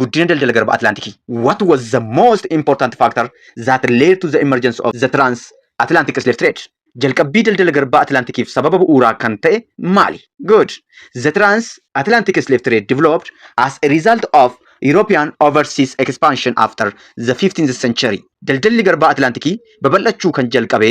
guddina daldala garba Atlaantikii. What was the most important factor that led to the emergence of the trans-Atlantic slave trade? Jalqabbii daldala garbaa Atlaantikiif sababa bu'uuraa kan ta'e maali? Good. The trans-Atlantic slave trade developed as a result of European overseas expansion after the 15th century. Daldalli garbaa Atlaantikii babal'achuu kan jalqabe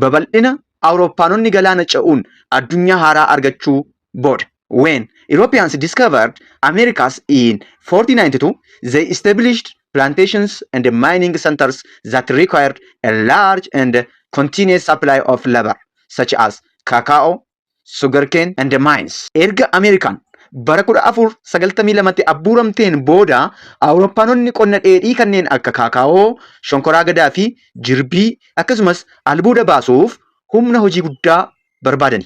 babal'ina Awurooppaanonni galaana ce'uun addunyaa haaraa argachuu booda. When Europeans discovered Americas in 1492, they established plantations and mining centers that required a large and continuous supply of labor, such as cacao, sugarcane, and mines. Erga Ameerikaan bara 1492tti abbuuramteen booda Awurooppaanonni qonna dheedhii kanneen akka kaakaawoo, shonkoraa gadaa fi jirbii akkasumas albuuda baasuuf humna hojii guddaa barbaadani.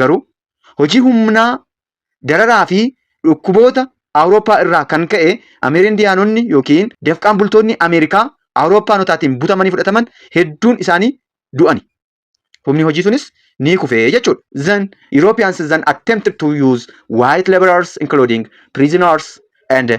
garuu hojii humnaa dararaa fi dhukkuboota Awurooppaa irraa kan ka'e Ameerindiyaanonni yookiin dafqaan bultoonni Ameerikaa Awurooppaanotaatiin butamanii fudhataman hedduun isaanii du'ani. Humni hojii sunis ni kufe jechuudha. Then Europeans then attempted to use white laborers including prisoners and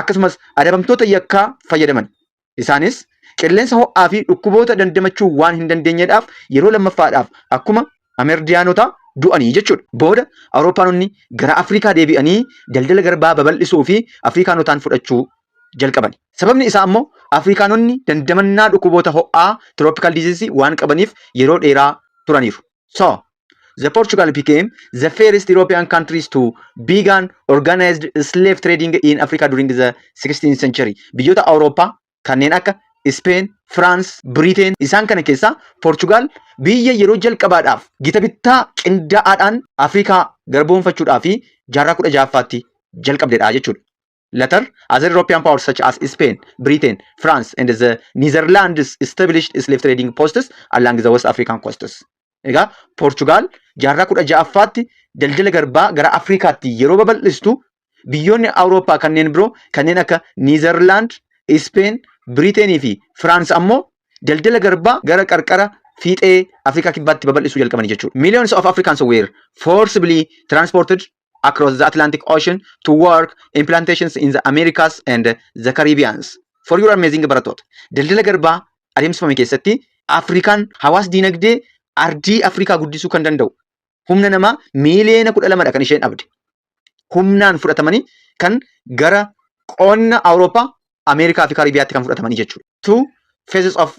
akkasumas adabamtoota yakkaa fayyadaman. Isaanis qilleensa ho'aa fi dhukkuboota dandamachuu waan hin dandeenyedhaaf yeroo lammaffaadhaaf akkuma Amerdiyaanotaa du'anii jechuudha. Booda Awurooppaanonni gara Afrikaa deebi'anii daldala garbaa babal'isuu fi Afrikaanotaan fudhachuu jalqaban. Sababni isaa ammoo Afrikaanonni dandamannaa dhukkuboota ho'aa, tropical disease, waan qabaniif yeroo dheeraa turaniiru. So, the Portugal became the first European countries to began organized slave trading in Africa during the 16th century. Biyyoota Awurooppaa kanneen akka Spain, France, Britain isaan kana keessaa Portugal biyya yeroo jalqabaadhaaf gita bittaa qindaa'aadhaan Afrikaa garboomfachuudhaa fi jaarraa 16ffaatti jalqabdedha jechuudha. Later, other European powers such as Spain, Britain, France, and the Netherlands established slave trading posts along the West African coasts. Egaa Poorchugaal jaarraa kudha ja'affaatti daldala garbaa gara Afrikaatti yeroo babal'istu biyyoonni Awurooppaa kanneen biroo kanneen akka Niizerlaand, Ispeen, Biriiteenii fi Firaans ammoo daldala garbaa gara qarqara fiixee Afrikaa kibbaatti babal'isuu jalqabani jechuudha. Millions of Africans were forcibly transported across the Atlantic Ocean to work in plantations in the Americas and the Caribbeans. For your amazing barattoota. Daldala garbaa adeemsifame keessatti Afrikaan hawaas diinagdee ardii Afrikaa guddisuu kan danda'u humna namaa miiliyoona kudha lamadha kan isheen dhabde. Humnaan fudhatamanii kan gara qonna Awurooppaa, Ameerikaa fi Karibiyaatti kan fudhatamanii jechuudha. Two phases of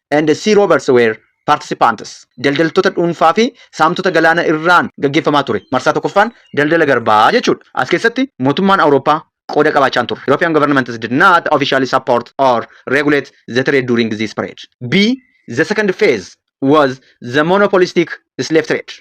and sea robbers were participants. Daldaltoota dhuunfaa fi saamtota galaana irraan gaggeeffamaa ture. Marsaa tokkoffaan daldala garbaa jechuudha. As keessatti mootummaan Awurooppaa qooda qabaachaan turre. European governments did not officially support or regulate the trade during this period. B. The second phase was the monopolistic slave trade.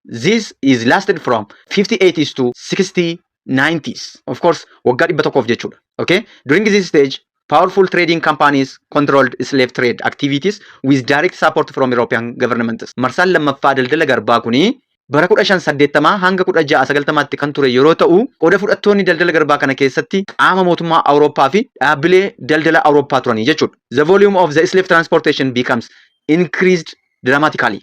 This is lasted from 58s to 69s. Of course, waggaa dhibba tokkoof jechuudha. Okay? During this stage, powerful trading companies controlled slave trade activities with direct support from European governments. Marsaan lammaffaa daldala garbaa kuni bara 1580 hanga 1690tti kan ture yeroo ta'u, qooda fudhattoonni daldala garbaa kana keessatti qaama mootummaa Awurooppaa fi dhaabbilee daldala Awurooppaa turanii jechuudha. The volume of the slave transportation becomes increased dramatically.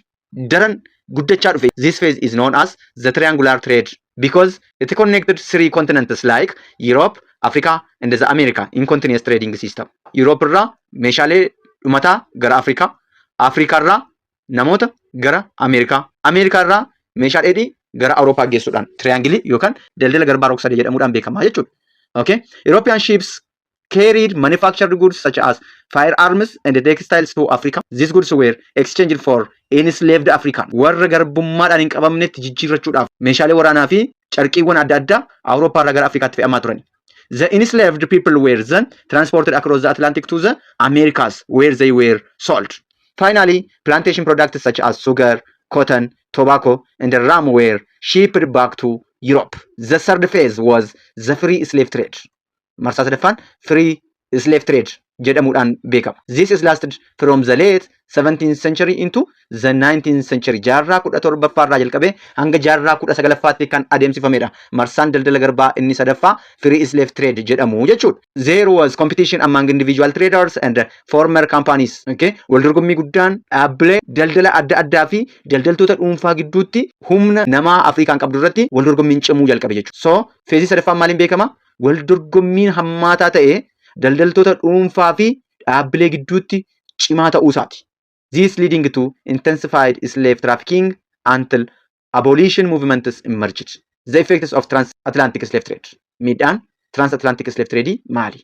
daran guddachaa dhufe. This phase is known as the triangular trade because it connected three continents like Europe, Africa and the America in continuous trading system. Europe irraa meeshaalee dhumataa gara Afrikaa, Afrikaa irraa namoota gara Ameerikaa, Ameerikaa irraa meeshaa dheedhii gara Awurooppaa geessuudhaan triangilii yookaan daldala garbaa rog-sadee jedhamuudhaan beekama jechuudha. Okay? European ships carried manufactured goods such as firearms and textiles to Africa. These goods were exchanged for enslaved African. Warra garbummaadhaan hin qabamnetti jijjiirrachuudhaaf meeshaalee waraanaa fi carqiiwwan adda addaa Awurooppaa irraa gara Afrikaatti fe'amaa turan. The enslaved people were then transported across the Atlantic to the Americas where they were sold. Finally, plantation products such as sugar, cotton, tobacco, and rum were shipped back to Europe. The third phase was the free slave trade. marsaa sadaffaan free slave trade jedhamuudhaan beekama. This is lasted from the late 17th century into the 19th century jaarraa 17ffaa irraa jalqabee hanga jaarraa 19ffaatti kan adeemsifamedha. Marsaan daldala garbaa inni sadaffaa free slave trade jedhamu jechuudha. There was competition among individual traders and former companies. Okay. Wal dorgommii guddaan dhaabbilee daldala adda addaa fi daldaltoota dhuunfaa gidduutti humna namaa Afrikaan qabdu irratti wal dorgommiin cimuu jalqabe jechuudha. So Feezii sadaffaan maaliin beekama? Wal dorgommiin hammaataa ta'e daldaltoota dhuunfaa fi dhaabbilee gidduutti cimaa ta'uu isaati. This leading to intensified slave trafficking until abolition movements emerged. The effects of transatlantic slave trade. Miidhaan transatlantic slave trade maali?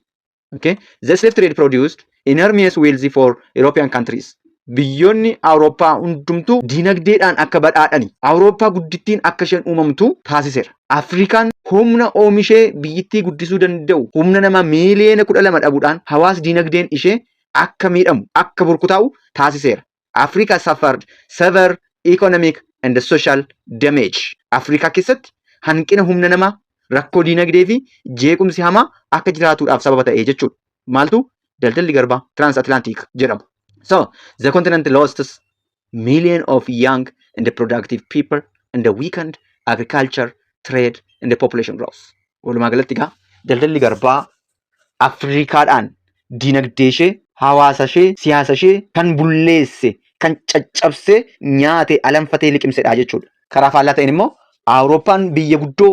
Okay? The slave trade produced enormous wealth for European countries. Biyyoonni Awurooppaa hundumtuu dinagdeedhaan akka badhaadhani. Awurooppaa guddittiin akka isheen uumamtu taasiseera. Afrikaan humna oomishee biyyittii guddisuu danda'u humna namaa miiliyoona kudha lama dhabuudhaan hawaas dinagdeen ishee akka miidhamu, akka burkutaa'u taasiseera. Africa suffered severe economic and social damage. Afrikaa keessatti hanqina humna namaa, rakkoo diinagdee fi jeequmsi hamaa akka jiraatuudhaaf sababa ta'e jechuudha. Maaltu daldalli garbaa transatlantic jedhamu. So, the continent lost million of young and productive people and weakened agriculture, trade and population growth. Walumaa galatti egaa daldalli garbaa Afriikaadhaan dinagdeeshee, hawaasashee, siyaasashee kan bulleesse, kan caccabsee nyaate, alanfatee liqimsedha jechuudha. Karaa faallaa ta'een immoo Awurooppaan biyya guddoo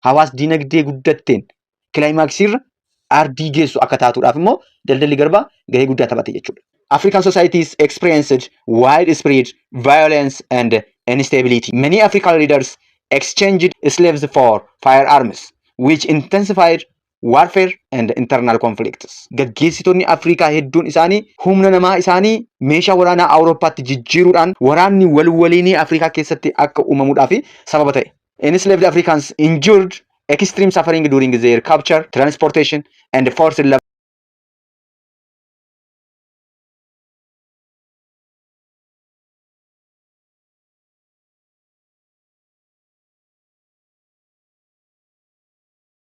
hawaas dinagdee guddatteen kilaayimaaksiirra ardii geessu akka taatuudhaaf immoo daldalli garbaa gahee guddaa taphate jechuudha. African societies experienced widespread violence and instability. Many African leaders exchanged slaves for firearms, which intensified Warfare and Internal Conflicts. Gaggeessitoonni Afrikaa hedduun isaanii humna namaa isaanii meeshaa waraanaa Awurooppaatti jijjiiruudhaan waraanni wal waliinii Afrikaa keessatti akka uumamuudhaaf sababa ta'e. Enslaved Africans endured extreme suffering during their capture, transportation, and forced labor.